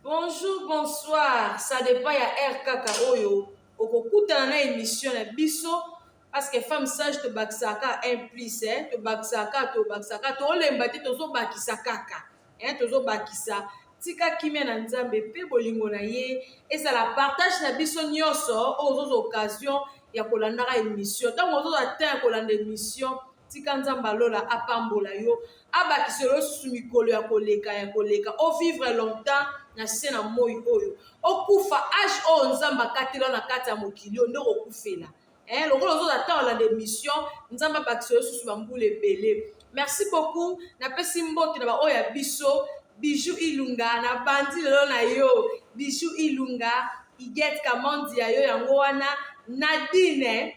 Bonjour, bonsoir, ça dépend ya heure kaka oyo okokutana na emission na biso parce que femme sage tobakisaka un plus eh, tobakisaka tobakisaka tolemba te tozobakisa kaka eh, tozobakisa tika kimia na nzambe mpe bolingo na ye ezala partage na biso nyonso oyo ozoza occasion ya kolandaka emission ntango ozoza temps ya kolanda emission Tika Nzambe ya lola apambola yo, abakisela yo lisusu mikolo ya koleka ya koleka, o vivre longtemps na se na moi oyo, okufa age oyo Nzambe akatela yo na kati ya mokili oyo nde okokufela. Eh, lokola ozoza ntango olanda emission, Nzambe abakisela yo lisusu bambula ebele. Merci beaucoup, napesi mbote na baoyo ya biso, Bijou Ilunga, nabandi lelo na yo, Bijou Ilunga, Igette Kamandi ya yo yango wana, Nadine,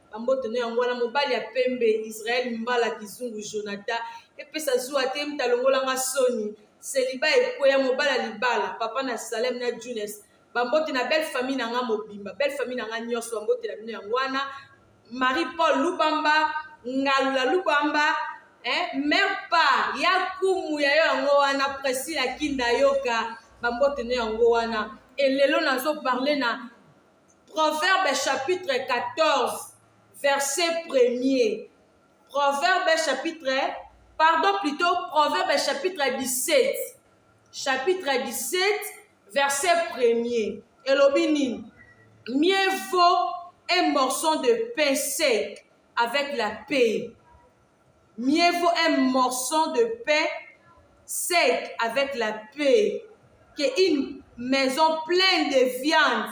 Bambote no yango wana mobali ya pembe Israël Mbala Kizungu Jonathan epesa zuwa te mta longola nga soni seliba ekweya mobala libala papa na Salem na Junes bambote na belle famille na nga mobimba belle famille na nga nyonso bambote na bino yango wana Marie Paul Lubamba Ngalula Lubamba eh, mère pa ya kumu ya yo yango wana Priscilla Kinda Yoka bambote no yango wana elelo nazo parle na Proverbe chapitre 14 verset premier. Proverbe chapitre, pardon plutôt Proverbe chapitre 17. Chapitre 17 verset premier. Elobi nini? Mieux vaut un morceau de pain sec avec la paix. Mieux vaut un morceau de pain sec avec la paix que une maison pleine de viande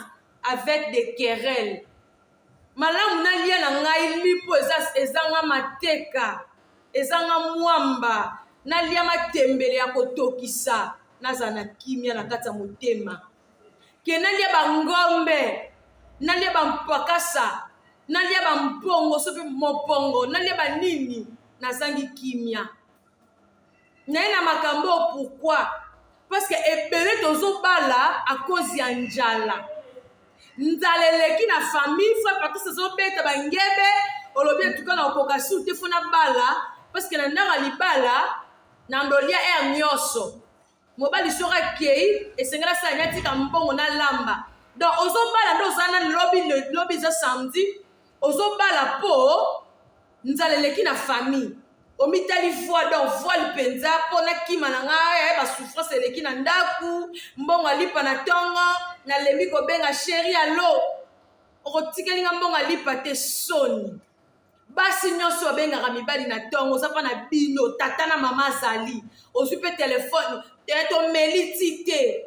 avec des querelles. Malamu nalia na ngai lipo eza ezanga mateka, ezanga mwamba, nalia matembele ya kotokisa, nazala na kimia na kati ya motema. ke nalia bangombe nalia bampakasa nalia bampongo so mpe mopongo nalia banini nazangi kimia naye na makambo oyo pourkui parceke ebele tozobala akozi ya njala nzala eleki na famille fo pakisi ezobeta bangebe olobi etuka na okoka sur te fo na bala parceke na ndako ya libala na ndolia ere nyonso Mobali soki akeyi esengeli asala nini atika mbongo na lamba donc ozobala nde oza na lobi lobi eza samedi ozobala po nzala eleki na famille omitali voile donc voile mpenza mpo nakima na ngai eh, basouffrance eleki na ndako mbongo alipa na ntongo nalembi kobenga sheri alo okotikeli ngai mbongo alipa te soni basi nyonso babengaka mibali na ntongo oza mpa na bino tata na mama azali ozwi mpe telefone tomeli ti te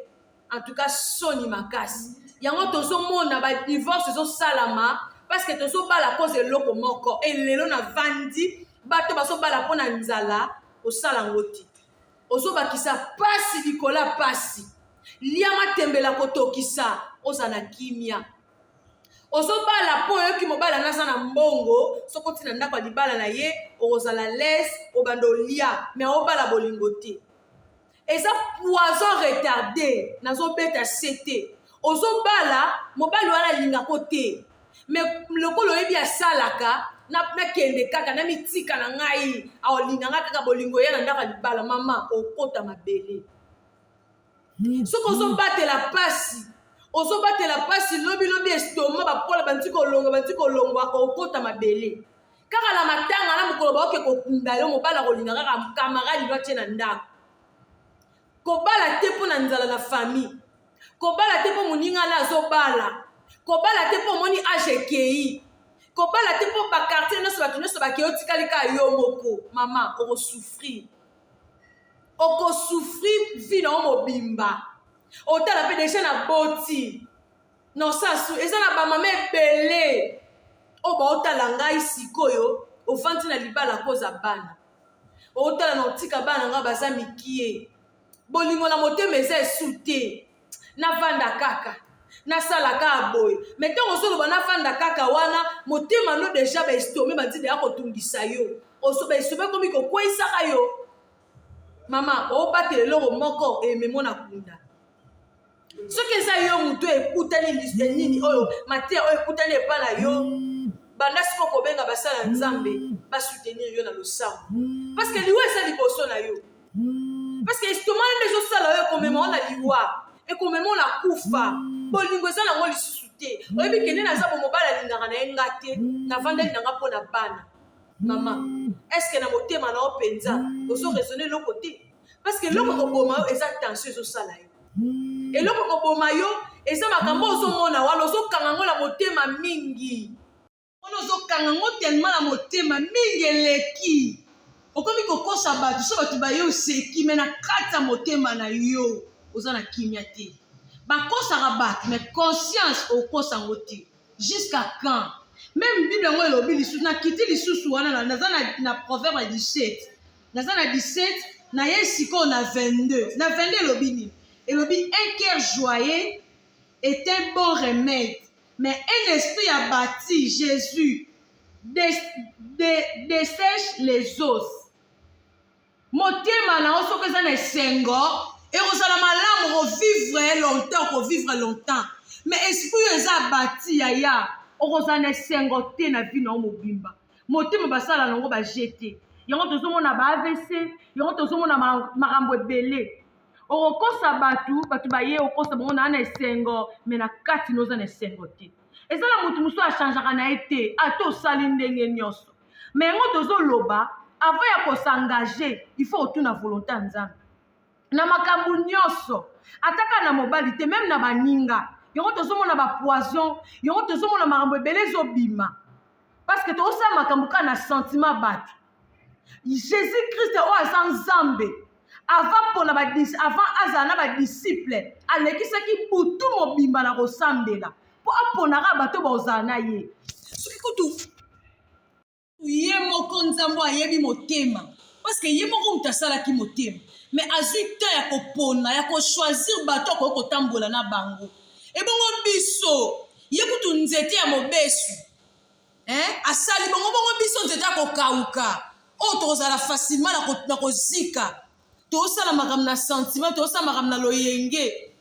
antuka soni makasi yango tozomona badivorce ezosalama parceke tozobala koza eloko moko elelo na vandi bato bazobala mpo na nzala kosala yango te ozobakisa mpasi likolo ya mpasi lia matembela kotokisa ozala na kimia ozobala mpo oyoki mobala naza na mbongo soki oti na ndako ya libala na ye okozala lese obanda olia me obala bolingo te eza poison retarde nazobeta se te ozobala mobali wana alingako te me lokola oyebi asalaka nakende kaka na mitika na ngai aolinga ngai kaka bolingo eya na ndako ya libala mama okota mabele soki ozobatela mpasi ozobatela mpasi lobilobi estoma bapola banti kolonga banti kolongwa okota mabele kaka na matanga na mokolo baoke kokunda yo mobali akolinga kaka kamaradi no atie na ndako kobala te mpo na nzala na famille kobala te mpo moninga na azobala kobala te mpo omoni age ekei kobala te mpo bakartier nyonso bato nyonso bakei otikali kaka yo moko mama okosouffrir oko souffrir vie na yo mobimba otala mpe deja na boti na osasu eza na bamama ebele oyo baotala ngai sikoyo ofandi na libala koza bana otala na otika bana ngai baza mikie bolingo na motema eza esu te navanda kaka nasala kaka boye me ntango ozoloba navanda kaka wana motema no deja baestome banzi deya kotungisa yo baestome ekomi kokweisaka yo mama obatela eloko moko ememo na kunda soki eza yo motu ekutani liste nini oyo mateya oyo ekutani epai na yo banda siko kobenga basala nzambe basoutenir yo na losambo parce que liwa eza liboso na yo parce que estomac nde ezosala oyo ekomema ona liwa ekomema ona kufa bolingo eza nango lisusu te oyebi kende naza bomobali alingaka na ye nga te navandeli na nga mpo na bana mama eske na motema na yo mpenza ozo raisonne eloko te parce que eloko ekoboma yo eza tension ezosala yo eloko ekoboma yo eza makambo ozomona wana ozokanga yango na motema mingi wana ozokanga ngo telema na motema mingi eleki okomi kokosa bato so bato baye oseki me na kati ya motema na yo oza na kimia te bakosaka bato me conscience okosa yango te jusqu'à quand meme bible yango elobi lisusu nakiti lisusu wana naza na, na proverbe ya 17 naza na 17 naye sikoyo na 22 na 22 elobi nini elobi un cœur joyeux est un bon remède Mais un esprit a bati Jesus de, de, desèche les os. Motema na yo soki eza na esengo ekozala malamu kovivre longtemps kovivre longtemps mais esprit oyo eza abati yaya okozala na esengo te na vi na yo mobimba motema basala na yango baje te yango tozomona ba avc yango tozomona makambo ebele okokosa bato bato baye okosa bango naa na esengo me na kati na oza na esengo te eza na moto mosusu achangeaka na ye te ata osali ndenge nyonso me yango tozoloba avant ya kosengage il faut otuna volonté ya nzambe na makambo nyonso ataka na mobali te meme na baninga yango tozomona bapoison yango tozomona makambo ebele ezobima parce que tozosala makambo kaka na sentiment bato jesus christ oyo aza nzambe avant pona ba dis- avant azala na badisiple alekisaki butu mobimba na kosambela mpo aponaka bato oyo bakozala na ye soki kutu ye moko nzambe oyo ayebi motema parceke ye moko moto asalaki motema me azwi temps ya kopona ya kochoisir bato akoki kotambola na bango ebongo biso ye kutu nzete ya mobesu eh? asali bongo bongo biso nzete ya kokauka oyo oh, tokozala facilement na kozika tosala makambo na sentiment tosala makambo na loyenge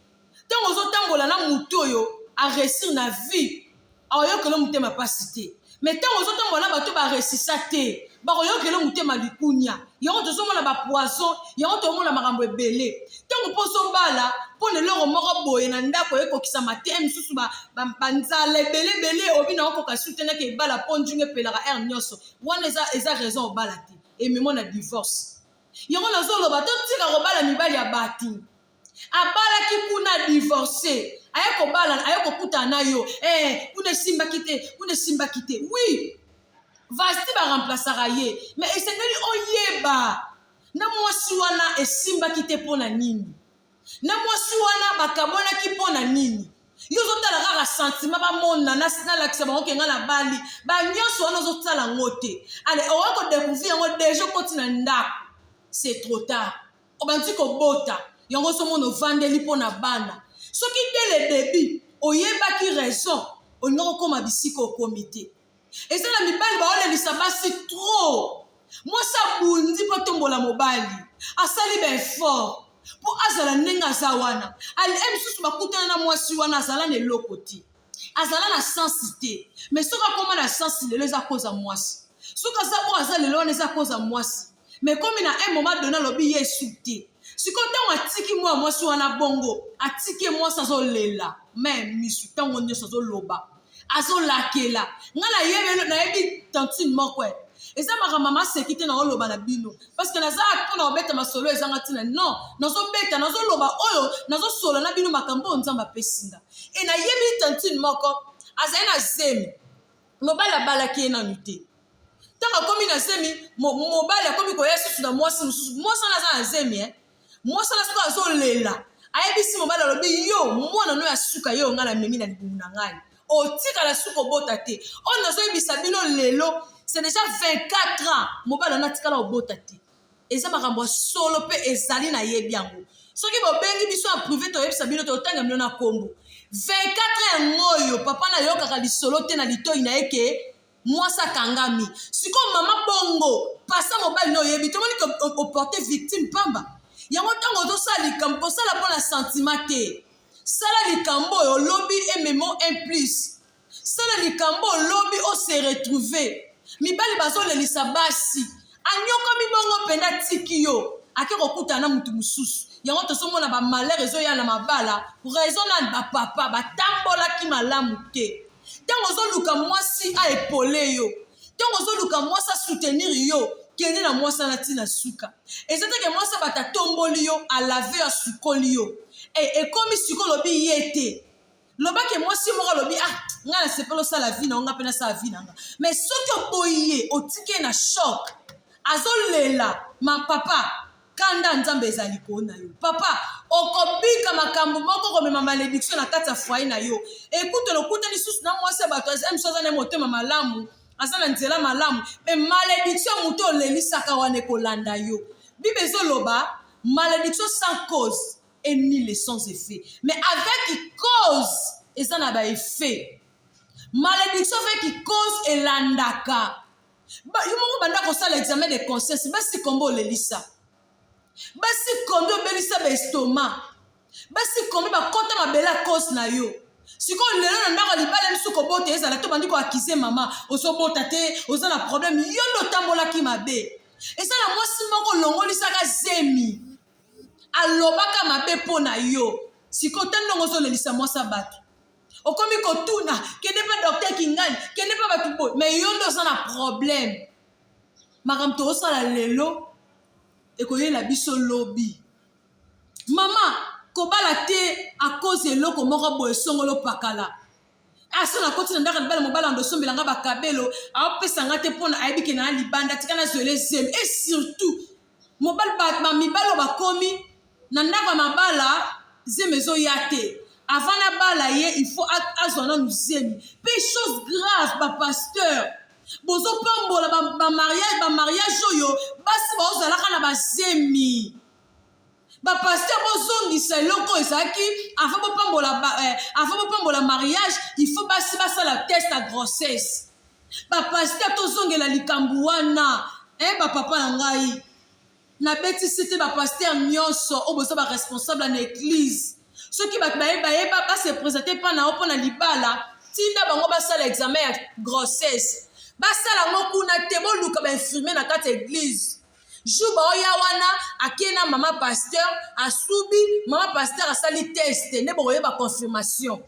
ntango ozotambola na motu oyo aresir na vie aoyokela motema mpasi te mai ntango ozotambola na bato baresisa te bakoyokela motema likunia yango tozomona bapoison yango tomona makambo ebele ntango mpo ozobala mpo na eloko moko boye na ndako ekokisama te mosusu banzala ebele ebele obi na okoka sutenaki ebala mpo njunga epelaka aire nyonso wana eza, eza raison obala te ememo na divorce yango nazoloba totika kobala mibali ya bato abalaki kuna a divorce aye kobala aye kokutana na yo eh, kuna esimbaki te kuna esimbaki te oui vasti baremplasaka ye me esengeli oyeba na mwasi wana esimbaki te mpo na nini na mwasi wana bakabwanaki mpo na nini yo ozotala kaka santima bamona nalakisa bango kenga na bali banyonso wana ozosala yango te ale okoki kodekouvrir yango deja okoti na ndako c'est trop tard obandi kobota yango ozomona ovandeli mpo na bana soki dès le début oyebaki raison olingi kokoma bisika okomi te eza na mibali baolelisa basi trop mwasi abundi mpo atombola mobali asali baeffort mpo azala ndenge aza wana alie mosusu bakutana na mwasi wana azala na eloko te azala na sensi te mais soki akoma na sensi lelo eza koza mwasi soki aza oyo aza lelo wana eza koza mwasi mais komi na un moment donné alobi ye esu te sikoyo ntango atiki mwana mwasi wana bongo atiki ye mwasi azolela me misu ntango nyonso azoloba azolakela ngai nayebi nayebi tantine moko e eza makambo maseki te naoloba na bino parceke naza mpo na kobeta masolo ezanga ntina non nazobeta nazoloba oyo nazosolo na bino makambo oyo nzambe apesi ngai e nayebi tantine moko azali na zemi mobali abalaki ye nanu te ntango akomi na zemi mobali akomi koya susu na mwasi mosusu mwasi wana aza na zemi e eh. mwasi wana soki azolela ayebisi mobali alobi yo mwana no ya suka ye ongai namemi na libumu na ngai otikala suka obota te oyo nazoyebisa bino lelo c'est déjà 24 ans mobali wana atikala obota te eza makambo ya solo mpe ezali nayebi yango soki bobengi biso ya prive toyebisa bino totanga bino na nkombo 24 yango oyo papa nayokaka lisolo te na litoi na ye ke mwasi akangami sikoyo mama bongo pasa mobali na oyebi tomoni ke oporte victime pamba yango ntango ozosala likambo kosala mpo na sentiment te sala likambo oyo lobi ememo un plus Sala likambo lobi o se retrouver. Mibali bazolelisa basi. Anyokomi bongo penda tiki yo. Ake kokutana na mutu mususu. Yango tozomona ba malheur ezoya na mabala. Raison nani ba papa batambolaki malamu te. Tango ozoluka mwasi a epole yo. Tango ozoluka mwasi a soutenir yo. Kende na mwasi wana ti na suka. Eza te ke mwasi abata atomboli yo, a lave yo, asukoli yo. E, ekomi siko lobi ye te. loba ke mwasi moko alobi ah ngai nasepeli osala vi na yo ngai mpe nasala vi na nga mais soki oboyi ye otiki ye na shok azolela ma papa kanda nzambe ezali koo na yo papa okobika makambo moko komema malediction na kati ya foye na yo ekutu lokuta lisusu na mwasi ya bato aza misu aza na ye motema malamu aza na nzela malamu me malediction moto olelisaka wana ekolanda yo bible ezoloba malediction sans cause et ni les sans effet mais avec cause eza na ba effet malédiction avec cause elandaka yo moko banda kosala examen de conscience basi kombo olelisa basi kombi obelisa ba estoma basi kombi bakota mabele a cause na yo sikoyo lelo na ndako ya libala biso kobota ezala to bandi koakize mama ozobota te oza na problème yo nde otambolaki mabe eza na mwasi moko olongolisaka zemi alobaka mabe mpo na yo sikoyo ta ndongo ozolelisa mwasi ya bato okomi kotuna kende mpe docteur kingani kende mpe bato boye me yo nde oza na problème makambo toosala lelo ekoyela biso lobi mama kobala te akoze eloko moko boye songolo pakala aso nakoti na ndako libala mobala ndo osombela nga bakabelo aopesa nga te mpona ayebi ke naa libanda tika nazwele zelo e surtout mobali ba mibali oyo bakomi na ndako ya mabala zemi ezoya te avant na bala ye il faut azwa nanu zemi mpe chose grave ba pasteur bozopambola ba mariage ba mariage oyo basi baozalaka na bazemi ba pasteur bozongisa eloko ezalaki avant bopambola eh, avant bopambola mariage il faut basi basala test ya grossesse ba pasteur tozongela likambo wana eh, ba papa na ngai nabetisi te ba pasteur nyonso oyo boza ba responsable na eglise soki bato baye bayeba base presente mpa na yo mpo na libala tinda bango basala examen ya grossesse basala yango kuna te boluka bainfirmier na kati ya eglise jour baoya wana ake na mama pasteur asubi mama pasteur asali test nde bokoyeba confirmation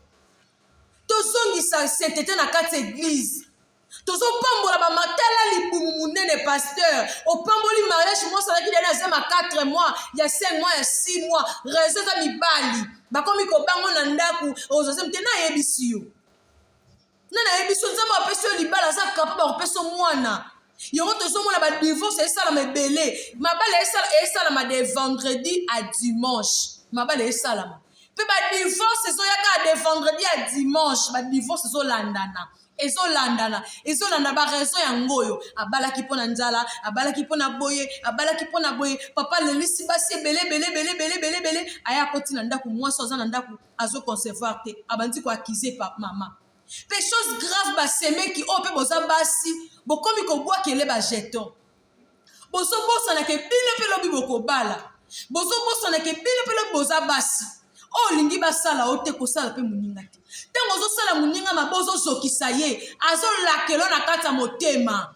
tozongisa saintete na kati eglize tozopambola bamatala libumu monene pasteur opamboli mariage mosi azalaki dani aza ma 4 mois ya 5 mois ya 6 mois rezo eza mibali bakomi kobango na ndako ozoze mte nayebisi yo nani ayebi so nzambe apesi yo libala aza capable akopesa mwana yango tozomona badivorce esalama ebele mabala esalama de vendredi à dimanche mabala esalama mpe badivorce ezoyaka de vendredi à dimanche badivorce ezolandana ezolandana ezolanda baraison yango oyo abalaki mpo na nzala abalaki mpo na boye abalaki mpo na boye papa lelisi basi ebele ebele ebele ebele ebele ebele aya akoti na ndako mwasi aza na ndako azo concevoir te abandi ko accuser pa mama pe chose grave basemeki oyo pe boza basi bokomi kobwakele bajeton bozobosana ke bino mpe lobi bokobala bozobosana ke bino mpe lobi boza basi oyo oh, olingi basala yo te kosala mpe moninga te ntango ozosala moninga mabe ozozokisa ye azolakelo na kati ya motema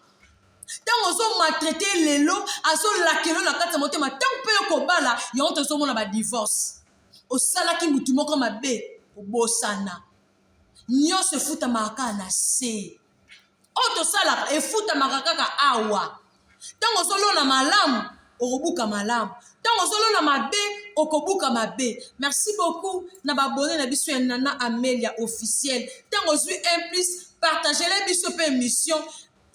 ntango ozomaltraite lelo azolakelo na kati ya motema ntango mpe yo kobala yango tozomona badivorce osalaki mutu moko mabe kobosana nyonso efutamaka kaka na se oyo tosalaka efutamaka kaka awa ntango ozolona malamu okobuka malamu ntango ozolona mabe okobuka mabe merci beaucoup na babone na biso ya nana amelia officiel ntango ozwi un plus partagele biso mpe émission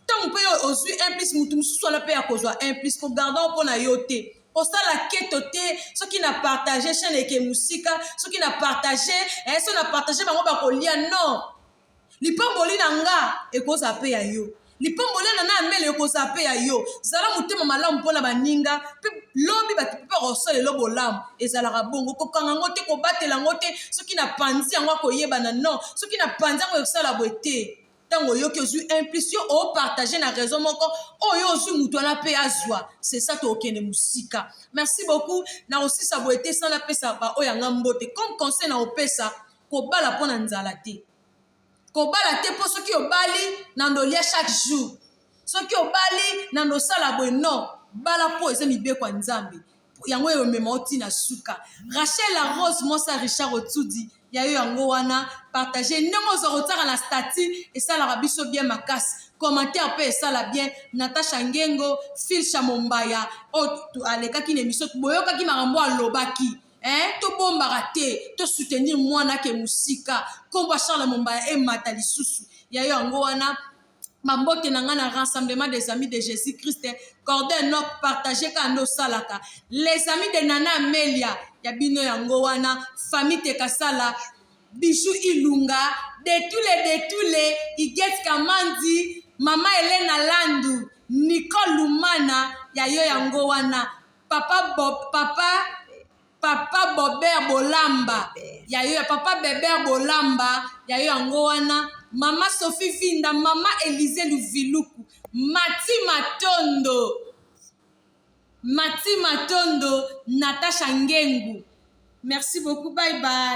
Ntango mpe yo ozwi 1 plus moto mosusu wana mpe akozwa 1 plus ko garda mpo na yo te kosala keto te soki na partage chaîne eke mosika soki na partage eh, soki na partage bango bakolia non lipamboli na nga ekozala mpe ya yo lipamboli na na amele ekozala mpe ya yo zala motema malamu mpo na baninga mpe lobi bato mpe bakosala elo bolamu ezalaka bongo kokanga yango te kobatela yango te soki na panzi yango akoyebana non soki na panzi yango ekosala boye te ntango oyoki ozwi un plus yo opartage na raison moko oyo oh, ozwi moto wana mpe azwa sesa to okende mosika merci beaucoup na kosisa boye te sana pesa baoyo yanga mbote comme conseil na kopesa kobala mpo na nzala te kobala te mpo soki obali na ndolia chaque jour soki obali na nosala boye non bala mpo eza mibeko ya nzambe yango oyo omema oti na suka rachel la rose mwasi ya richard otsudi ya yo yango wana partage ndenge oza kotiaka na stati esalaka biso bien makasi commentaire mpe esala bien natasha ngengo filsha mombaya oyo oh, alekaki na emission boyokaki makambo alobaki eh, tobombaka te tosoutenir mwana ke mosika nkombo ya charle mombaya emata lisusu ya yo yango wana Bambote na nga na rassemblement des amis de Jesus Christ, cordon nok partage kaka nde osalaka. Les amis de Nana Amelia ya bino yango wana, famille Tekasala, Bijou Ilunga, Detule Detule, Iget Kamandi, Mama Elena Landu, Nicole Lumana ya yo yango wana. Papa Bob, papa papa bober bolamba ya yo ya papa beber bolamba ya yo yango wana mama sophie vinda mama elise luviluku mati matondo mati matondo natasha ngengu merci beaucoup bye bye